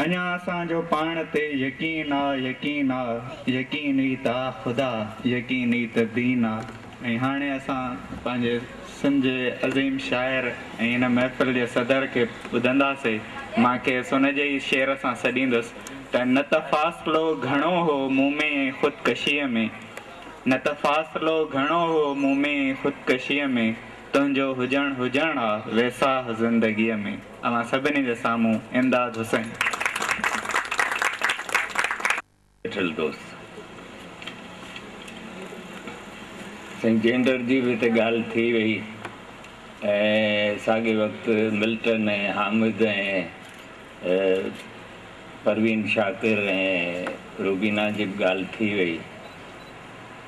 اڃا اسان جو پاڻ تي يقين آ يقين آ يقين ئي ته آ خدا يقين ئي ته دين آ ۽ هاڻي اسان پنهنجي سنڌ جي عظيم شاعر ۽ هن محفل جي صدر کي ٻڌنداسي مان کيس ان جي ئي شعر سان سڏيندس ته نه ته فاصلو گهڻو هو مون ۾ ۽ خود ڪشيء ۾ نه ته فاصلو گهڻو هو مون ۾ ۽ خود ڪشيء ۾ تنهنجو هجڻ هجڻ آ ويساهه زندگيء ۾. اوهان سڀني جي سامهون امداد حسين. ويٺل دوست سائين جينڊر جي به هتي ڳالهه ٿي وئي ۽ ساڳئي وقت ملٽن ۽ حامد ۽ پروين شاڪر ۽ روبينا جي به ڳالهه ٿي وئي.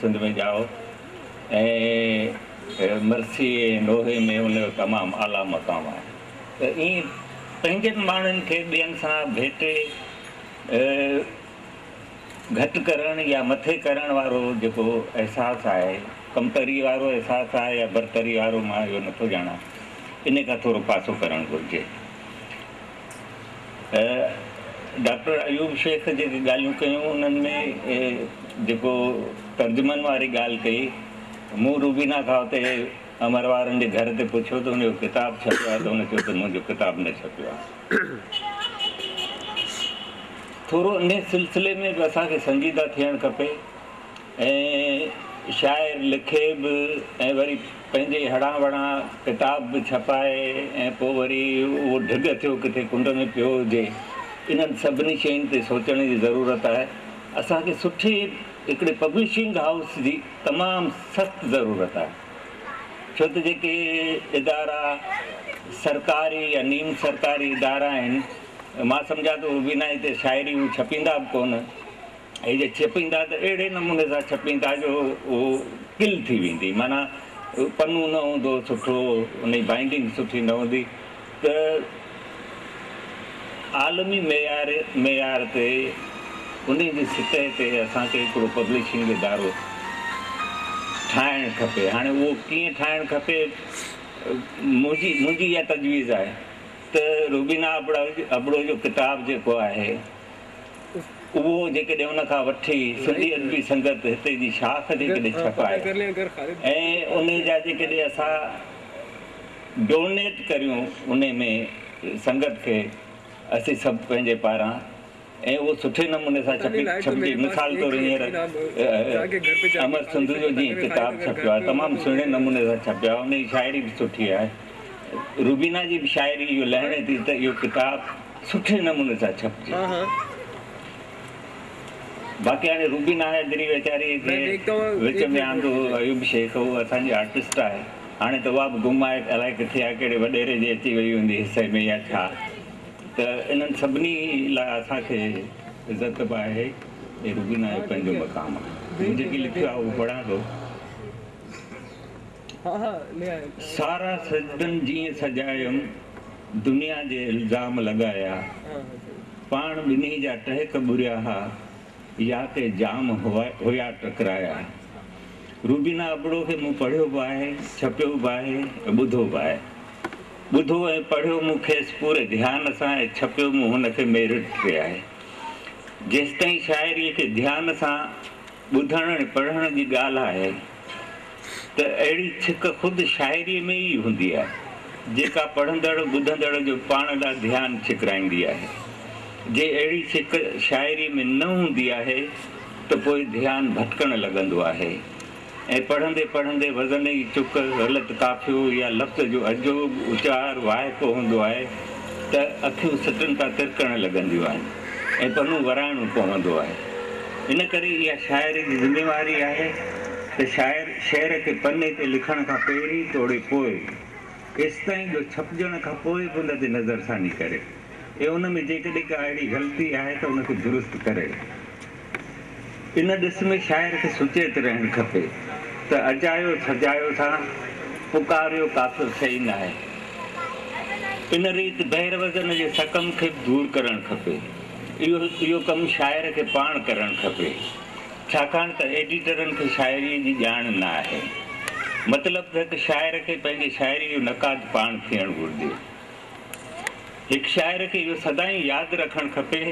سنڌ ۾ ڄائو ۽ مرثي ۽ نوحي ۾ ان جو تمام اعليٰ مقام آهي ته ائين پنهنجن ماڻهن کي ٻين سان ڀيٽي گهٽ ڪرڻ يا مٿي ڪرڻ وارو جيڪو احساس آهي ڪمتري وارو احساس آهي يا برتري وارو مان اهو نٿو ڄاڻان ان کان ٿورو پاسو ڪرڻ گهرجي ڊاڪٽر ايوب شيخ جيڪي ڳالهيون ڪيون انهن ۾ جيڪو ترجمن واري ڳالهه ڪئي مون روبينا کان اتي امر وارن جي گهر تي پڇيو ته ان جو ڪتاب ڇپيو آهي ته هن چيو ته منهنجو ڪتاب نه ڇپيو آهي. ٿورو انهي سلسلي ۾ به اسان کي سنجيده ٿيڻ کپي. ائين شاعر لکي به ۽ وري پنهنجي هڙان وڙان ڪتاب به ڇپائي ۽ پوء وري اهو ڍڳ ٿيو ڪٿي ڪنڊ ۾ پيو هجي. انهن سڀني شين تي سوچڻ جي ضرورت آهي. اسان کي سٺي هڪڙي پبلشنگ هائوس جي تمام سخت ضرورت آهي. ڇو ته جيڪي ادارا سرڪاري يا نيم سرڪاري ادارا آهن مان سمجهان ٿو بنا هتي شاعري هو ڇپيندا به ڪونه. هي جي ڇپيندا ته اهڙي نموني سان ڇپيندا جو هو ڪل ٿي ويندي معنيٰ پنو نه هوندو سٺو ان جي بائنڊنگ سٺي نه هوندي ته عالمي معيار معيار تي ان جي سطح تي اسان کي هڪڙو پبلشنگ ادارو ٺاهڻ کپي هاڻي اهو ڪيئن ٺاهڻ کپي منهنجي منهنجي اها تجويز آهي ته روبينا ابڙو ابڙو جو ڪتاب جيڪو آهي اهو جيڪڏهن ان کان وٺي سنڌي ادبي سنگت هتي جي شاخ جيڪڏهن ڇپائي ۽ ان جا جيڪڏهن اسان ڊونيٽ ڪريون ان ۾ سنگت کي اسين سڀ پنهنجي پاران ۽ اهو سٺي نموني سان ڇپي ڇپجي مثال طور هينئر امر سنڌو جو جيئن ڪتاب ڇپيو آهي تمام سهڻي نموني سان ڇپيو آهي ان جي شاعري به سٺي آهي. روبينا جي به شاعري اهو لهڻي ٿي ته اهو ڪتاب سٺي نموني سان ڇپجي. باقي هاڻي روبينا حيدري ويچاريء کي وچ ۾ آندو هو اهو به شيخ هو اسان جي آرٽسٽ آهي. هاڻي ته اها به گم آهي الائي ڪٿي آهي ڪهڙي وڏيري جي اچي وئي هوندي حصي ۾ يا ڇا. ته انهن سڀني لاء اسان کي عزت به آهي ۽ روبينا جو پنهنجو مقام آهي. مون جيڪي لکيو آهي اهو پڙهان ٿو. سارا سجدن جيئن سجايم، دنيا جي الزام لڳايا، پاڻ ٻنهي جا ٽهڪ ٻريا ها، يا ڪي جام هيا ٽڪرايا. روبينا ابڙو کي مون پڙهيو به آهي، ڇپيو به آهي ۽ ٻڌو به آهي. ٻڌو ۽ پڙهيو مون کيس پوري ڌيان سان ۽ ڇپيو مون هن کي ميرٽ تي آهي. جيستائين شاعريء کي ڌيان سان. ٻڌڻ ۽ پڙهڻ جي ڳالهه آهي ته اهڙي ڇڪ خود شاعريء ۾ ئي هوندي آهي، جيڪا پڙهندڙ، ٻڌندڙ جو پاڻ ڏانهن ڌيان ڇڪرائيندي آهي. جي اهڙي ڇڪ شاعريء ۾ نه هوندي آهي ته پوء ڌيان ڀٽڪڻ لڳندو آهي ۽ پڙهندي پڙهندي وزن ئي چڪ، غلط قافيو يا لفظ جو عجوب اچار وائکو هوندو آهي ته اکيون سٽن تان ترڪڻ لڳنديون آهن ۽ پنون ورائڻو پوندو آهي. ان ڪري اها شاعر جي ذميواري آهي ته شاعر شعر کي پني تي لکڻ کان پهرين توڙي پوء، ايستائين جو ڇپجڻ کان پوء به ان تي نظرثاني ڪري ۽ ان ۾ جيڪڏهن ڪا اهڙي غلطي آهي ته ان کي درست ڪري. ان ڏس ۾ شاعر کي سچيت رهڻ کپي ته اجايو سجايو سان پڪاريو ڪافر شيء ناهي. ان ريت بحر وزن جي سقم کي به دور ڪرڻ کپي. اهو ڪم شاعر کي پاڻ ڪرڻ کپي، ڇاڪاڻ ته ايڊيٽرن کي شاعريء جي ڄاڻ نه آهي. مطلب ته هڪ شاعر کي پنهنجي شاعريء جو نقاد پاڻ ٿيڻ گهرجي. هڪ شاعر کي اهو سدائين ياد رکڻ کپي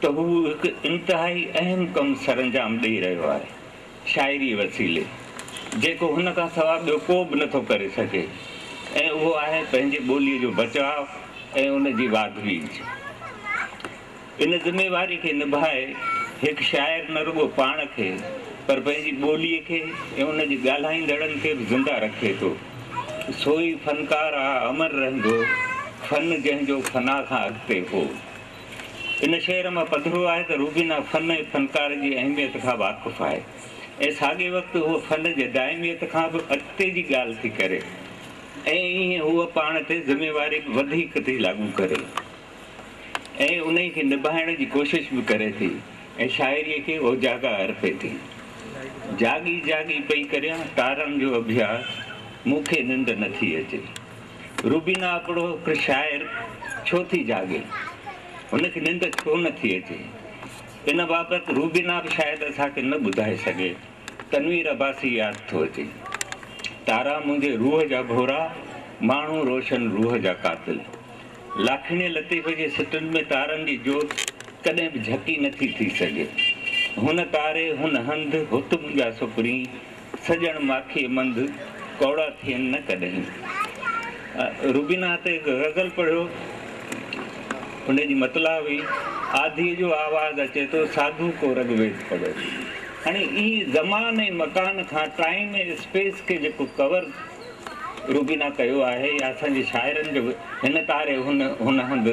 ته هو هڪ انتهائي اهم ڪم سرانجام ڏئي رهيو آهي. شاعريء وسيلي جيڪو هن کان سواء ٻيو ڪو به نٿو ڪري سگهي ۽ اهو آهي پنهنجي ٻوليء جو بچاء ۽ ان جي واڌ ويجهه. ان ذميواريء کي نڀائي هڪ شاعر نه رڳو پاڻ کي پر پنهنجي ٻوليء کي ۽ ان جي ڳالهائيندڙن کي به زنده رکي ٿو. سوئي فنڪار آ امر رهندو، فن جنهن جو فنا کان اڳتي هو. ان شعر مان پڌرو آهي ته روبينا فن ۽ فنڪار جي اهميت کان واقف آهي ۽ ساڳئي وقت هوء فن جي دائميت کان به اڳتي جي ڳالهه ٿي ڪري ۽ ايئن هوء پاڻ تي ذميواري به وڌيڪ ٿي لاڳو ڪري ۽ انهي کي نڀائڻ جي ڪوشش به ڪري ٿي ۽ شاعري کي اوجاڳا ارپي ٿي جاڳي جاڳي پئي ڪريان تارن جو اڀياس مون کي ننڊ نٿي اچي. روبينا ابڙو هڪ شاعر ڇو ٿي جاڳي؟ هن کي ننڊ ڇو نه ٿي اچي؟ ان بابت روبينا به شايد اسان کي نه ٻڌائي سگهي. تنوير عباسي ياد ٿو اچي. تارا منهنجي روح جا ڀورا، ماڻهو روشن روح جا قاتل. لاکيڻي لطيف جي سٽن ۾ تارن جي جوت ڪڏهن به جهڪي نه ٿي ٿي سگهي. هن تاري، هن هنڌ، هت منهنجا سپرين، سڄڻ ماکيء منڌ ڪوڙا ٿين نه ڪڏهين. روبينا هتي هڪ غزل پڙهيو. ان جي مطلع هئي، آڌيء جو آواز اچي ٿو، ساڌو ڪو رگ ويد پڙهيو. هاڻي هي زمان ۽ مڪان کان ٽائيم ۽ اسپيس کي جيڪو ڪور روبينا ڪيو آهي يا اسان جي شاعرن جو هن تاري هن هن هنڌ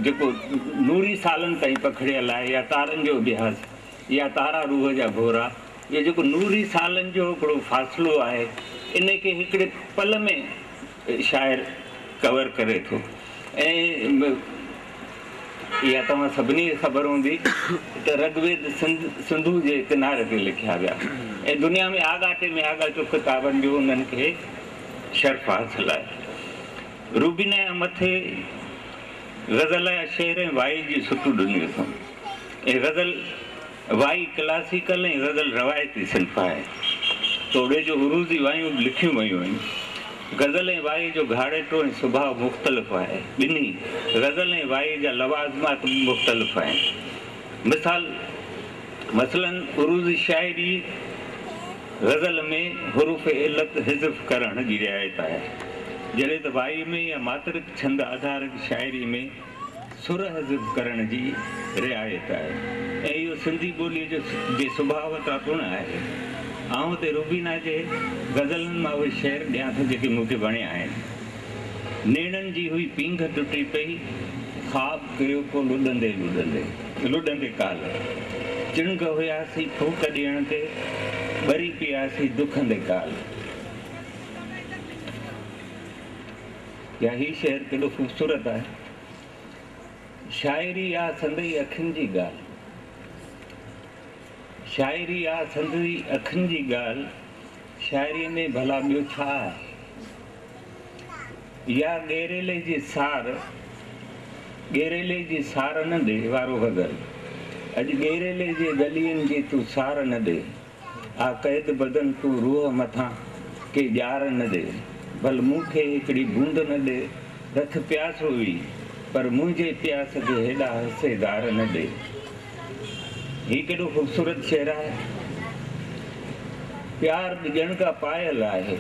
جيڪو نوري سالن تائين پکڙيل آهي يا تارن جو اڀياس يا تارا روح جا ڀورا جو جيڪو نوري سالن جو هڪڙو فاصلو آهي ان کي هڪڙي پل ۾ شاعر ڪور ڪري ٿو ۽ اها توهان سڀني کي خبر هوندي ته رگ ويد سنڌ سنڌو جي ڪناري تي لکيا ويا ۽ دنيا ۾ آڳاٽي ۾ آڳاٽو ڪتابن جو انهن کي شرف حاصل آهي روبينا جا مٿي غزل جا شعر ۽ وائي جي سٽون ڏنيون اٿم ۽ غزل وائي ڪلاسيڪل ۽ غزل روايتي صنف آهي. توڙي جو عروضي وايون به لکيون ويون آهن. غزل ۽ وائي جو گهاڙيٽو ۽ سڀاء مختلف آهي. ٻنهي، غزل ۽ وائي، جا لوازمات به مختلف آهن. مثال، مثلاً عروضي شاعري، غزل، ۾ حروف علت حذف ڪرڻ جي رعايت آهي. جڏهن ته وائي ۾ يا ماترڪ ڇند آڌارڪ شاعري ۾ سرحزب ڪرڻ جي رعايت آهي ۽ اهو سنڌي ٻوليء جو جي سڀاء وٽان پڻ آهي. آئون هتي روبينا جي غزلن مان اهي شعر ڏيان ٿو جيڪي مون کي وڻيا آهن. نيڻن جي هئي پينگهه ٽٽي پئي، خواب ڪيو ڪو لڏندي لڏندي. لڏندي ڪالهه چڻگهه هياسين ڦوڪ ڏيڻ تي، ٻري پياسين دکندي ڪالهه. يا هي شهر ڪيڏو خوبصورت آهي. شاعري آ سندئي اکين جي ڳالهه. شاعري آ سندئي اکين جي ڳالهه، شاعريء ۾ ڀلا ٻيو ڇا آهي؟ يا ڳيريلي جي سار، ڳيريلي جي سار نه ڏي وارو غزل، اڄ ڳيريلي جي ڳلين جي تون سار نه ڏي. آ قيد بدن تون روح مٿان ڪي ڄار نه ڏي ڀل مون کي هڪڙي بوند نه ڏي رک پياس هئي پر منهنجي پياس کي هيڏا هسي گار نه ڏي هي ڪيڏو خوبصورت شعر آهي پيار به ڄڻ ڪا پايل آهي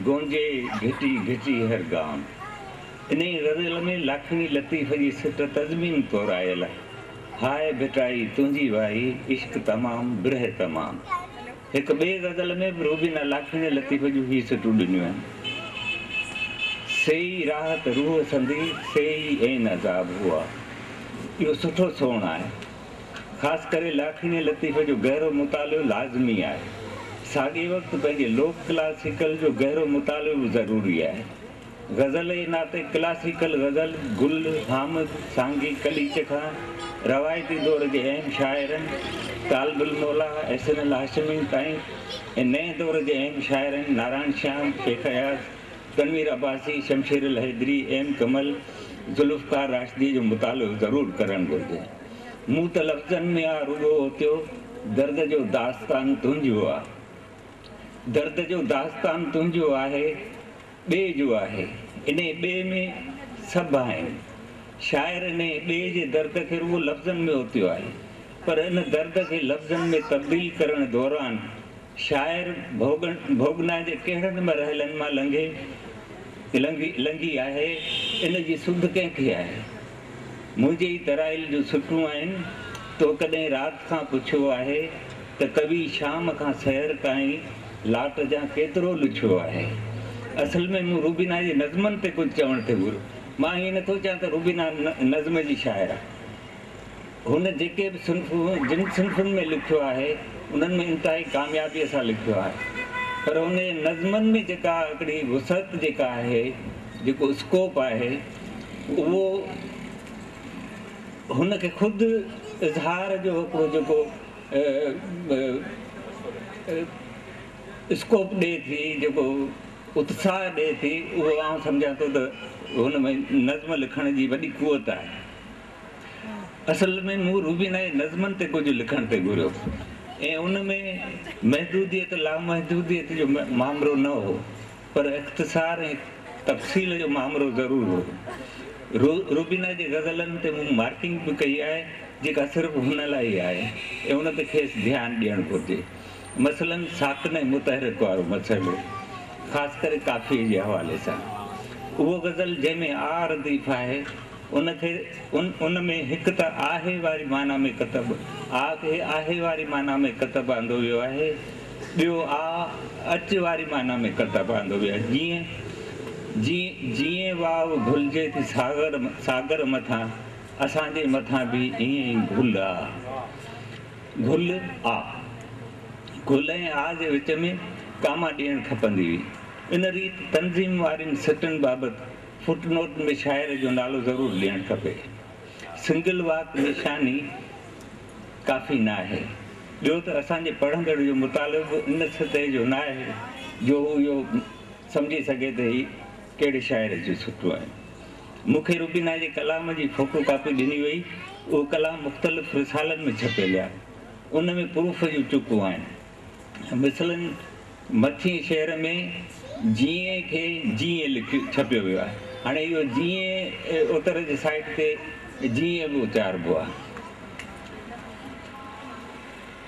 گونجي گهٽي گهٽي هر گام انهي غزل ۾ لاکڻي لطيف جي سٽ تضمين طور آيل آهي. هاء ڀٽائي تنهنجي وائي عشق تمام برهه تمام هڪ ٻئي غزل ۾ به روبينا لافيڻي لطيف جون هي سٽون ڏنيون آهن سيئي راحت روح سندي سيئي عين عذاب هئا اهو سٺو سون آهي خاص ڪري لافيڻي لطيف جو گهرو مطالعو لازمي آهي ساڳئي وقت پنهنجي لوڪ ڪلاسيڪل جو گهرو مطالعو به ضروري آهي غزل جي ناتي ڪلاسيڪل غزل گل حامد سانگي قليچ کان روايتي دور جي اهم شاعرن طالب الموليٰ احسن الهاشمي تائين ۽ نئين دور جي اهم شاعرن نارائڻ شيام، شيخ اياز، تنوير عباسي، شمشير الحيدري، ايم ڪمل، ذوالفقار راشدي جو مطالعو ضرور ڪرڻ گهرجي. مون ته لفظن ۾ آ رڳو اوتيو درد جو داستان تنهنجو آ درد جو داستان تنهنجو آهي. ٻئي جو آهي، انهيء ٻئي ۾ سڀ آهن. شاعر انهيء ٻئي جي درد کي رڳو لفظن ۾ اوتيو آهي، پر ان درد کي لفظن ۾ تبديل ڪرڻ دوران شاعر ڀوڳنا جي ڪهڙن به رهلن مان لنگهي آهي، ان جي سڌ ڪنهن کي آهي؟ منهنجي ئي ترائيل جون سٽون آهن. تو ڪڏهن رات کان پڇيو آهي ته ڪوي شام کان سحر تائين لاٽ جان ڪيترو لڇيو آهي؟ اصل ۾ مون روبينا جي نظمن تي ڪجهه چوڻ ٿي گهريو. مان ائين نٿو چان ته روبينا نظم جي شاعر آهي. هن جيڪي به صنفون جن صنفن ۾ لکيو آهي انهن ۾ انتهائي ڪاميابيء سان لکيو آهي پر هن جي نظمن ۾ جيڪا هڪڙي وسعت جيڪا آهي جيڪو اسڪوپ آهي اهو هن کي خود اظهار جو هڪڙو جيڪو اسڪوپ ڏئي ٿي جيڪو اتساهه ڏئي ٿي اهو آئون سمجهان ٿو ته هن ۾ نظم لکڻ جي وڏي قوت آهي. اصل ۾ مون روبينا جي نظمن تي ڪجهه لکڻ تي گهريو ۽ ان ۾ محدوديت لامحدوديت جو مامرو نه هو پر اختصار ۽ تفصيل جو مامرو ضرور هو. روبينا جي غزلن تي مون مارڪنگ به ڪئي آهي جيڪا صرف هن لاء ئي آهي ۽ ان تي کيس ڌيان ڏيڻ گهرجي. مثلاً ساڪن ۽ متحرڪ وارو مسئلو، خاص ڪري قافيي جي حوالي سان. اهو غزل جنهن ۾ آء رديف آهي، ان کي ان ۾ هڪ ته آهي واري معنيٰ ۾ ڪتب آء کي آهي واري معنيٰ ۾ ڪتب آندو ويو آهي، ٻيو آء اچ واري معنيٰ ۾ ڪتب آندو ويو آهي، جيئن، جيئن، جيئن واء گهلجي ٿي ساغر، ساگر مٿان، اسان جي مٿان به ائين ئي گهل آ. گهل، آ. گهل ۽ آ جي وچ ۾ ڪاما ڏيڻ کپندي هئي. ان ريت تنظيم وارين سٽن بابت فٽ نوٽ ۾ شاعر جو نالو ضرور ڏيڻ کپي. سنگل واڪ نشاني ڪافي ناهي. ٻيو ته اسان جي پڙهندڙ جو مطالعو به ان سطح جو ناهي جو هو اهو سمجهي سگهي ته هي ڪهڙي شاعر جون سٽون آهن. مون کي روبينا جي ڪلام جي فوٽو ڪاپي ڏني وئي، اهو ڪلام مختلف رسالن ۾ ڇپيل آهي، ان ۾ پروف جون چڪون آهن. مثلاً مٿينء شعر ۾ جيئي کي جيئي لک ڇپيو ويو آهي، هاڻي اهو جيئي اتر جي سائيٽ تي جيئي به اچاربو آهي.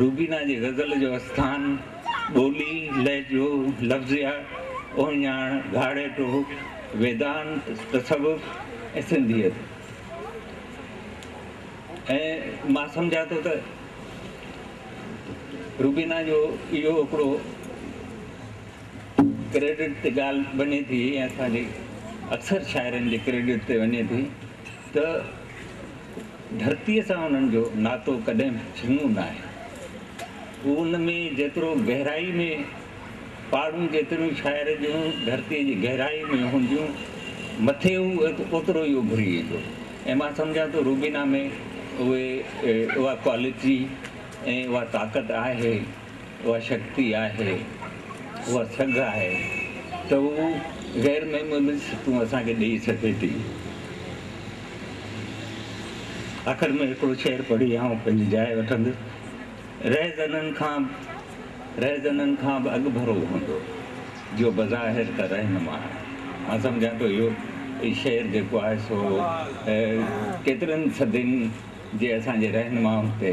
روبينا جي غزل جو اسٿان، ٻولي، لهجو، لفظيات، اهڃاڻ، گهاڙيٽو، ويدانت، تصوف ۽ سنڌيت ۽ مان سمجهان ٿو ته روبينا جو اهو هڪڙو ڪريڊٽ تي ڳالهه وڃي ٿي ۽ اسان جي اڪثر شاعرن جي ڪريڊٽ تي وڃي ٿي ته ڌرتيء سان انهن جو ناتو ڪڏهن به جهونو ناهي. هو ان ۾ جيترو گهرائي ۾ پاڙون جيتريون شاعر جون ڌرتيء جي گهرائي ۾ هونديون مٿي هو اوترو ئي اڀري ايندو ۽ مان سمجهان ٿو روبينا ۾ اهي اها ڪوالٽي ۽ اها طاقت آهي اها شڪتي آهي، اها سگهه آهي ته هو غير معمولي سٽون اسان کي ڏيئي سگهي ٿي. آخر ۾ هڪڙو شعر پڙهي آئون پنهنجي جاء وٺندس، رهزنن کان رهزنن کان به اڳڀرو هوندو، جو بظاهر ته رهنما آهي. مان سمجهان ٿو اهو شعر جيڪو آهي سو ڪيترن صدين جي اسان جي رهنمائن تي